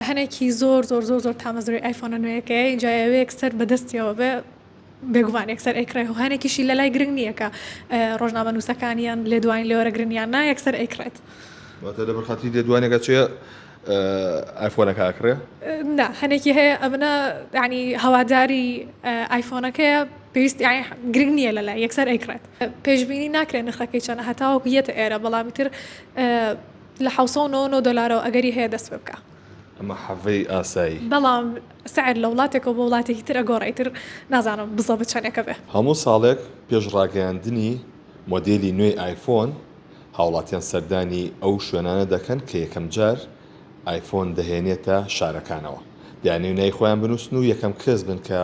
هەنێکی زۆر زۆر زۆر زۆر تامەزرۆی ئایفۆنە نوێیەکەیە ئینجا یاوەیەک سەر بە دەستیەوە بێ بێگومان یەکسەر ئەیکڕێ و هەنێکیشی لە لای گرنگ نییە کە ڕۆژنامە نووسەکان یان لێدوانی لێوەرەگرن یان نا یەکسەر ئەیکڕێت واتە لەبەر خاتری لێدوانێکە چێ ئایفۆنەکە ئەکڕێ؟ نا هەنێکی هەیە ئەمنە یعنی هەواداری ئایفۆنەکەیە پێویست گرنگ نییە لە لای یەکسەر ئەیکڕێت پێشببینی ناکرێن نرخەکەی چەنە هەتاوەکو یەتە ئێرە بەڵامی تر لە حەوت سەد و نەوەد و نۆ دۆلارەوە ئەگەری هەیە دەست پێ بکا. ئەمە حەڤەی ئاسایی. بەڵام سعر لە وڵاتێکەوە بۆ وڵاتێکی تر ئەگۆڕێ ئیتر نازانم بزە بە چەنێکە بێ. هەموو ساڵێک پێش ڕاگەیاندنی مۆدێلی نوێی ئایفۆن، هاوڵاتیان سەردانی ئەو شوێنانە دەکەن کە یەکەمجار ئایفۆن دەهێنێتە شارەکانەوە، دەیانەوێت ناوی خۆیان بنووسن و یەکەم کەس بن کە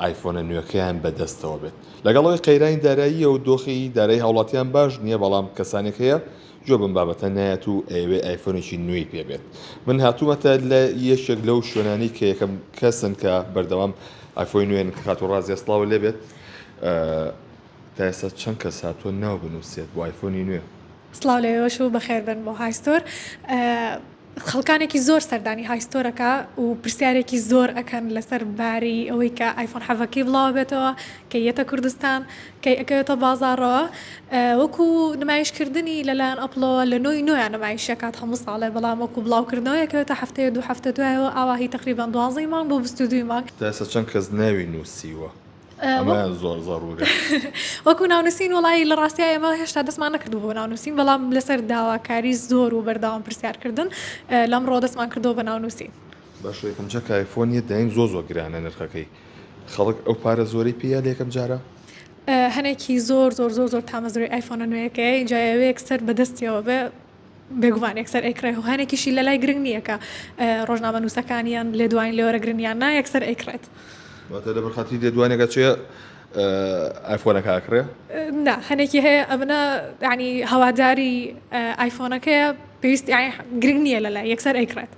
ئایفۆنە نوێکەیان بەدەستەوە بێت. لەگەڵ ئەوەی قەیرانی داراییە و دۆخی دارایی هاوڵاتیان باش نییە، بەڵام کەسانێک هەیە جواب ئەم بابەتە نایەت و ئەیەوێت ئایفۆنێکی نوێی پێ بێت من هاتوومەتە لە یەکێک لەو شوێنانی کە یەکەم کەسن کە بەردەوام ئایفۆی نوێن کە کات و ڕازیە سڵاو لێ بێت تا ئێستا چەند کەس هاتووە ناو بنووسێت بۆ ئایفۆنی نوێ سڵاو لە ئێوەش و بەخێربن بۆ های ستۆر. خەڵکانێکی زۆر سەردانی ئایستۆرەکە و پرسیارێکی زۆر ئەکەن لەسەر باری ئەوەی کە ئایفۆن حەڤە کەی بڵاوەبێتەوە کەی یەتە کوردستان کەی ئەکەوێتە بازاڕەوە وەکو نمایشکردنی لەلایەن ئەپڵەوە لە نۆی نۆیان نمایش ئەکات هەموو ساڵێ بەڵام وەکو بڵاوکردنەوە ئەکەوێتە هەفتەیە دوو هەفتە دوایەوە ئاوا هی تەقریبەن دوازدە ی مانگ بۆ بیست و دوو ی مانگ. تا ئێستا چەند کەس ناوی نوسیوە؟ وەکو ناونووسین وڵی لە ڕاستیا ئێمە هێشتا دەستمان نەکردو بۆ ناونووسین بەڵام لەسەر داواکاری زۆر و بەرداوام پرسیارکردن لەم ڕۆ دەستمان کردەوە بە ناونووسین بەشێکم چە کایفۆنیە دایم زۆ زۆ گرانە نرخەکەی خەڵک ئەو پارە زۆری پێیا لەکەم جارە هەنێکی زۆر زۆر زۆر زۆر تامەزرۆی ئایفۆنە نوێەکەی جایەوەیەک سەر بەدەستیەوە بێ بێگومان یەکسەر ئەیکڕێ و هەنێکیشی لەلای گرنگ نییە کە ڕۆژنامەنووسەکان یان لێدوانی لێوەرەگرن یان نا یەکسەر ئەیکڕێت. واتە لەبەر خاتری لێدوانێکە چێ ئایفۆنەکە ئەکڕێ؟ نا هەنێکی هەیە ئەمنە یعنی هەواداری ئایفۆنەکەیە پێویست گرنگ نییە لەلای یەکسەر ئەیکڕێت.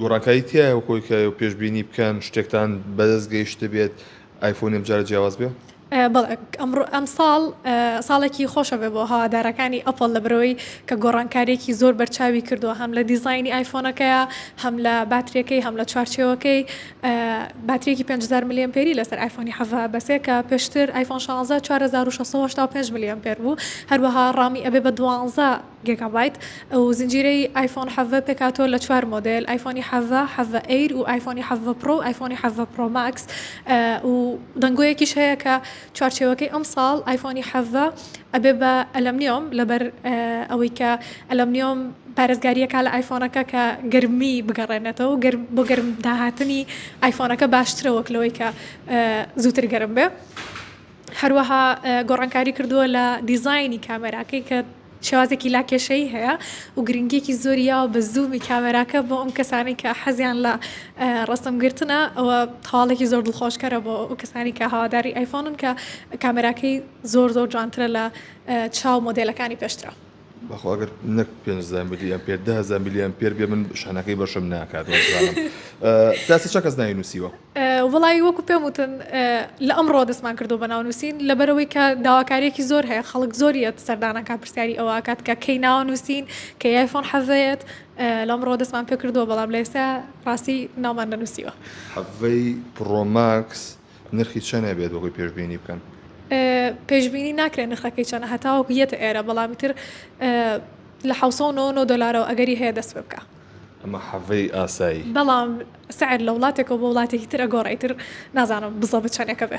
گۆڕانکاری تایە وکۆی کە پێشببینی بکەن شتێکتان بەدەست گەیشت بێت ئایفۆنیم جارە جیاواز بێ؟ بەڵێ ئەمساڵ ساڵێکی خۆشە بێ بۆ هەوادارەکانی ئەپڵ لە برەوەی کە گۆڕانکاریەکی زۆر بەرچاوی کردووە هەم لە دیزانی ئایفۆنەکەیە هەم لە باترەکەی هەم لە چوارچێوەکەی باترێکی پێنج هەزار ملێۆن پێری لەسەر ئایفۆنی حەڤە بەسێ کە پێشتر ئایفۆن شازە چوار هەزار و شەش سەد و هەشتا و پێنج ملێۆن پێر بوو هەروەها ڕامی ئەبێ بە دوانزە گێگابایت، ئەو زنجیرەی ئایفۆن حەڤە پێکهاتووە لە چوار مۆدێل، ئایفۆنی حەڤە، حەڤە ئەیر و ئایفۆنی حەڤە پڕۆ و ئایفۆنی حەڤە پڕۆ ماکس و دەنگۆیەکیش هەیە کە چوارچێوەکەی ئەمساڵ ئایفۆنی حەڤە ئەبێ بە ئەلەمنیۆم لەبەر ئەوەی کە ئەلەمنیۆم پارێزگاری ئەکا لە ئایفۆنەکە کە گەرمی بگەڕێنێتەوە و بۆ گەرم داهاتنی ئایفۆنەکە باشترە وەک لەوەی کە زووتر گەرم بێ. هەروەها گۆڕانکاری کردووە لە دیزاینی کامێراکەی کە شێوازێکی لاکێشەیی هەیە و گرنگیەکی زۆری یاوە بە زوومی کامێراکە بۆ ئەم کەسانەی کە حەزیان لە ڕەسم گرتنە ئەوە هەواڵێکی زۆر دڵخۆشکەرە بۆ ئەو کەسانی کە هەواداری ئایفۆنن کە کامێراکەی زۆر زۆر جوانترە لە چاو مۆدێلەکانی پێشترا. بەخوا ئەگەر نەک پێ زانبدی ئەم پێ دهزان میلیان پێر بێ من شانەکەی بەشم ناکات تاسی چ کەس نای نووسیوە وڵی وەکو پێم وتن لە ئەمڕۆ دەستمان کردو بە ناونووسین لەبەرەوەی کە داواکارێکی زۆر هەیە خەڵک زۆریەت سەردانەکە پرسیاری ئەوکات کە کەی ناوە نووسین کە یایفۆن حەڤێت لەمڕۆ دەستمان پێ کردووە بەڵام لە ئێستا ڕاستی نامان دەنووسیوە حەڤەی پڕۆماکس نرخی چەند ئەبێت وەکوی پێشبینی بکەن؟ پێشبینی ناکرێت نرخەکەی چەنە هەتاوەکو یەتە ئێرە بەڵامی تر لە ح دلارەوە ئەگەری هەیە دەست پێ بکە ئەمە حەڤەی ئاسایی بەڵام سعر لە وڵاتێکەوە بۆ وڵاتێکی ترە گۆڕێتر نازانم بزە بچەنێکە بێ.